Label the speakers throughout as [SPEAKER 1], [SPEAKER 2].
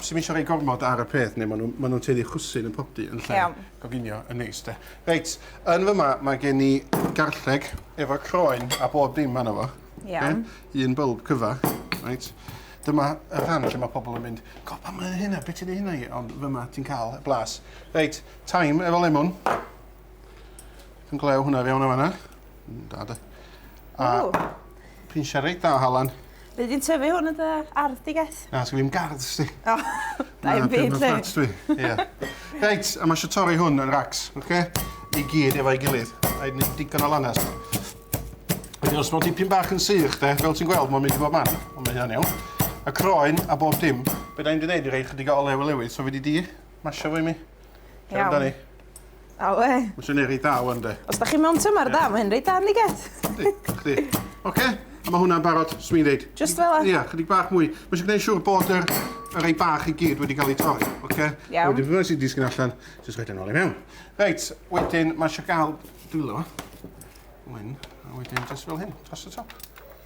[SPEAKER 1] sy'm isio rhoi gormod ar y peth, neu maen nhw'n ma nhw teulu chwsyn yn popty yn lle yeah. goginio yn neis de. Reit, yn fyma mae gen i garlleg efo croen a bob dim anna fo. Yeah. Okay? Un
[SPEAKER 2] bylb cyfa.
[SPEAKER 1] Reit. Dyma y rhan lle mae pobl yn mynd, go, pa mae'n hynna, beth ti'n ei hynna i? Ond fyma ti'n cael y blas. Reit, taim efo lemon. Yn glew hwnna fewn o fanna. Da de. A pinsiau reit dda o halan. Be di'n tyfu hwn
[SPEAKER 2] yn dy ardd di, Geth? Na, sgyn fi'm gardd, sdi.
[SPEAKER 1] O, da
[SPEAKER 2] i'n byd, le. dwi. Ie.
[SPEAKER 1] Reit, a mae eisiau torri hwn yn racs, oce? Okay? I gyd efo'i gilydd. A i'n digon o lannes. Wedyn os mae'n dipyn bach yn sych, de, fel ti'n gweld, mae'n mynd i bob man. Ond mae hynny'n iawn. A croen a bob dim. Be da i'n di wneud i rei chydig o olew i lewyd, so fi di di masio fo i mi. Iawn. Amdani.
[SPEAKER 2] A we. Mae'n swnio reit dda wan
[SPEAKER 1] de. Os da chi mewn tymor yeah.
[SPEAKER 2] da, mae hyn reit dda yn i get. Yndi, chdi.
[SPEAKER 1] Oce, a mae hwnna'n barod, swn i'n deud. Just fel e? Ia, chydig
[SPEAKER 2] bach mwy. Mae eisiau
[SPEAKER 1] gwneud siŵr bod yr, yr ei bach i gyd wedi cael ei torri, oce? Okay? Iawn. Wedyn, fydda sy'n
[SPEAKER 2] disgyn allan,
[SPEAKER 1] jyst rhaid yn ôl i mewn. Reit, wedyn, mae eisiau gael dwylo. Wyn, a wedyn, jyst fel hyn, dros y top.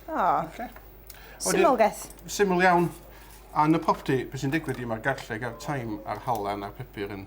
[SPEAKER 1] O. Oh.
[SPEAKER 2] Okay. Syml geth. Syml iawn.
[SPEAKER 1] A yn y popty, beth sy'n digwydd i mae'r garlleg a'r taim a'r halan a'r pepur yn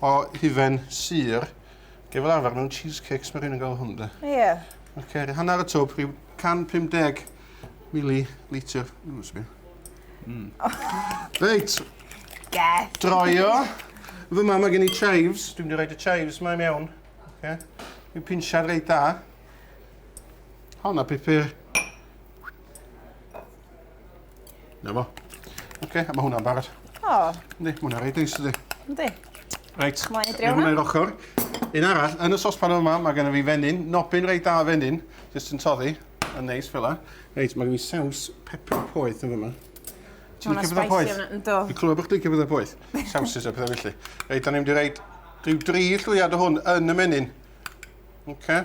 [SPEAKER 1] o hufen sur. Ge fel arfer mewn cheesecakes mae rhywun yn gael hwn de. Ie. Yeah. Oce, okay, hanner y twb, rhyw 150 mili litr. Mm, sbio. Mm. Reit. Get.
[SPEAKER 2] Droio.
[SPEAKER 1] Fy mam mae gen i chives. Dwi'n mynd i roed y chives mae mewn. Oce. Okay. Dwi'n pinsiad reit da. Honna pipur. Na fo. Oce, okay, mae hwnna'n barod. O. Oh. Ni, mae
[SPEAKER 2] hwnna'n reit
[SPEAKER 1] neis ydi. Yndi.
[SPEAKER 2] Reit,
[SPEAKER 1] mae hwnna'n
[SPEAKER 2] ochr.
[SPEAKER 1] Un arall, yn y sospan yma, mae gen i fi fenyn, nobyn reit da fenyn, jyst yn toddi, yn neis fel la. Reit, mae gen i saws pepper poeth yn fyma. Ti'n licio pethau poeth? Dwi'n clywed bod chdi'n licio pethau poeth. Sawsys a pethau felly. Reit, da ni'n mynd i reid rhyw dri llwyad o hwn yn y menyn. Oce. Okay.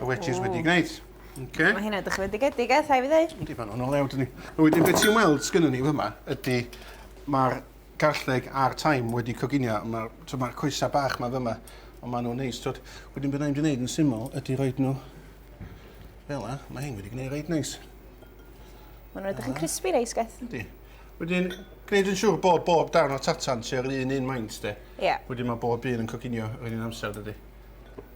[SPEAKER 1] y wedges wedi gwneud. Okay. Mae hynna
[SPEAKER 2] dychweledigaedig, eh, rhaid fi ddweud. Ydy, fan o'n o lew, dyn ni.
[SPEAKER 1] A wedyn, beth ti'n weld sgynny ni fyma ydy mae'r garlleg a'r taim wedi coginio. Mae'r so ma coesau bach mae fyma, ond maen nhw'n neis. Tod, wedyn beth ni'n gwneud yn syml ydy roed nhw fel yna. Mae hyn wedi gwneud reit neis.
[SPEAKER 2] Maen nhw'n edrych yn crispy reis, gwaith. Ydy. Wedyn,
[SPEAKER 1] gwneud yn siŵr bod bob darn o tatan sy'n yr un un maint, de. Ie. Yeah. Wedyn mae bob
[SPEAKER 2] un yn
[SPEAKER 1] coginio yr un amser, dydy.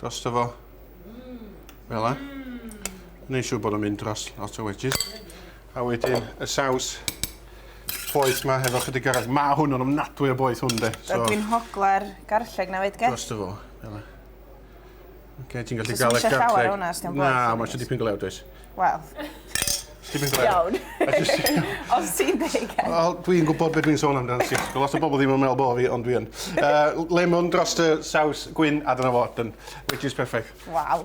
[SPEAKER 1] Dros fo. Fel yna. Neu siw bod yn mynd dros lot o wedges. A wedyn y saws poeth ma hefo chydig arall. Ma hwn yn ofnadwy o boeth hwn de. So, Rydw i'n hogla'r
[SPEAKER 2] garlleg na fyd, ge? Dros fo. Fel
[SPEAKER 1] yna. Okay, ti'n gallu gael y garlleg. Ti'n llawer hwnna,
[SPEAKER 2] Na, mae
[SPEAKER 1] eisiau
[SPEAKER 2] dipyn glew, does.
[SPEAKER 1] Wel.
[SPEAKER 2] Dim
[SPEAKER 1] yn gre-... Iawn.
[SPEAKER 2] Os ti'n deg Ed. Wel dwi'n gwbod be' dwi'n
[SPEAKER 1] sôn amdan Sisg. Lot o bobol ddim yn me'wl bo' fi ond dwi yn. Yy lemon drost y saws gwin a
[SPEAKER 2] dyna
[SPEAKER 1] fo done. Which is perfect. Waw.